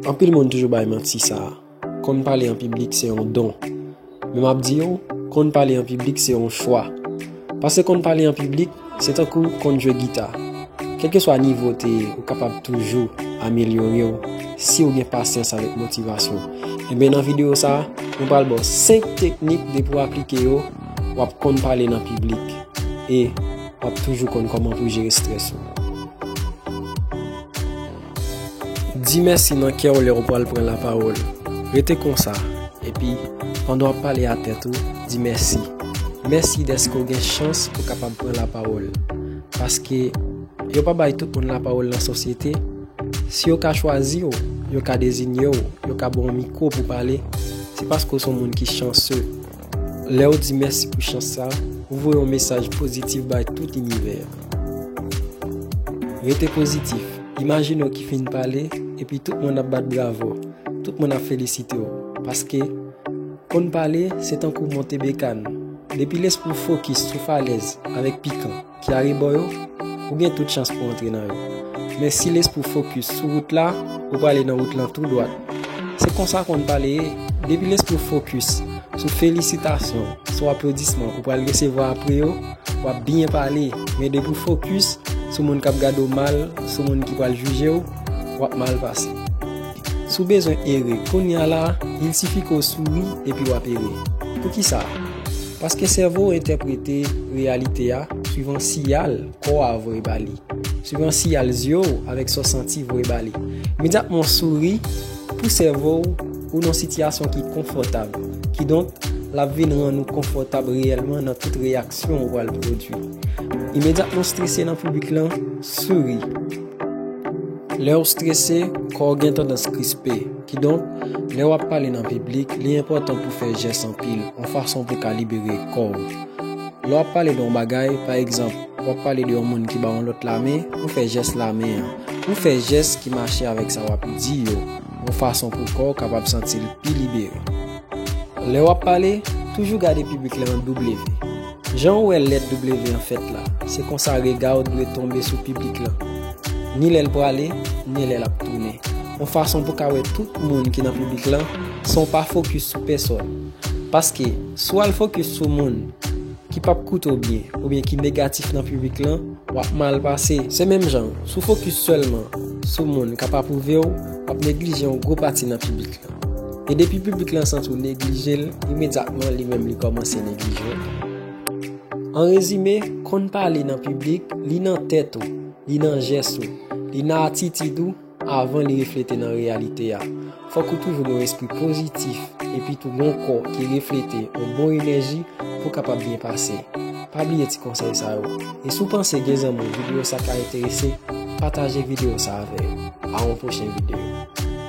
Anpil moun toujou bay manti sa a, konn pale an piblik se yon don. Men m ap di yo, konn pale an piblik se yon chwa. Pase konn pale an piblik, se tankou konn jwe gita. Kèlkeswa nivo w te ye, ou kapab toujou amelyore w si w gen pasyans avèk motivasyon. Enben nan videyo sa a, mwen pral ba w 5 teknik depi w aplike yo, w ap konn pale nan piblik e w ap toujou konn kòman pou w jere strès ou. Di mèsi nan kè w lè w pral pran lapawòl. Rete konsa, epi, pandan w ap pale a tèt ou, di mèsi. Mèsi dèske w gen chans pou w kapab pran lapawòl. Paske, yo pa bay tout moun lapawòl nan sosyete. Si yo ka chwazi w, yo ka dezinye w, yo ka ba w mikwo pou w pale, se paske w se yon moun ki chanse. Lè ou di mèsi pou chans sa, ou voye yon mesaj pozitif bay tout inivè a. Rete pozitif. Imajine ou ki fin pale, epi tout moun ap bat bravo, tout moun ap felisite ou. Paske, konn pale, se tankou monte bekàn. Depi lespri w fokis sou falèz avèk pikan. ki arebò yo, ou gen tout chans pou w antre nan yo. Men si lespri w fokis sou wout la, ou prale nan wout lan tou dwat. Se konsa konn pale ye, depi lespri w fokis sou felisitasyon, sou aplodisman ou pral resevwa apre yo, w ap byen pale, men depi w fokis sou moun k ap gade w mal, sou moun ki pral jije w, w ap mal pase. Si w bezwen ere kounya la, il sifi ke w souri epi wap ere. Poukisa? Paske sèvo w entèprete reyalite a swivan siyal kò a voye ba li, swivan siyal zye w avèk sa w santi voye ba li. Imedyatman w souri, pou sèvo w, ou nan yon sitiyasyon ki konfòtab. Kidonk, lap vin rann ou konfòtab reyèlman nan tout reyaksyon ou pral pwodui. Imedyatman w strese nan piblik lan, souri. Lè w strese, kò w gen tandans krispe. Kidonk, lè w ap pale nan piblik, li enpòtan pou w fè jès anpil, yon fason pou w ka libere kò w. Lè w ap pale de yon bagay, pa egzanp, w ap pale de yon moun ki ba yon lòt lamen, ou fè jès lamen an. Ou fè jès ki mache avèk sa w ap di yo, yon fason pou kò w kapab santi l pi libere. Lè w ap pale, toujou gade piblik la nan double vi. Jan ou wè lèt W an fèt la, se konsa rega w dwe tonbe sou piblik lan, ni lè l prale, ni lè l ap tounen, yon fason pou w ka wè tout moun ki nan piblik lan san w pa fokis sou pèsòn. Paske, si w al fokis sou moun ki p ap koute w byen oubyen ki negatif nan piblik lan, w ap mal pase. Se menm jan, si w fokis sèlman sou moun k ap apwouve w, w ap neglije yon gwo pati nan piblik lan. E depi piblik lan santi w neglije l, imedyatman li menm li kòmanse neglije w. An rezime, konn pale nan piblik, li nan tèt ou, li nan jès ou, li nan atitid ou avan li reflete nan reyalite a. Fòk ou toujou gen yon espri pozitif epi tou gen yon kò ki reflete yon bon enèji pou w kapab byen pase. Pa bliye ti konsèy sa yo. E si w panse gen zanmi videyo sa ka enterese, pataje videyo sa avè yo. A yon pwochen videyo.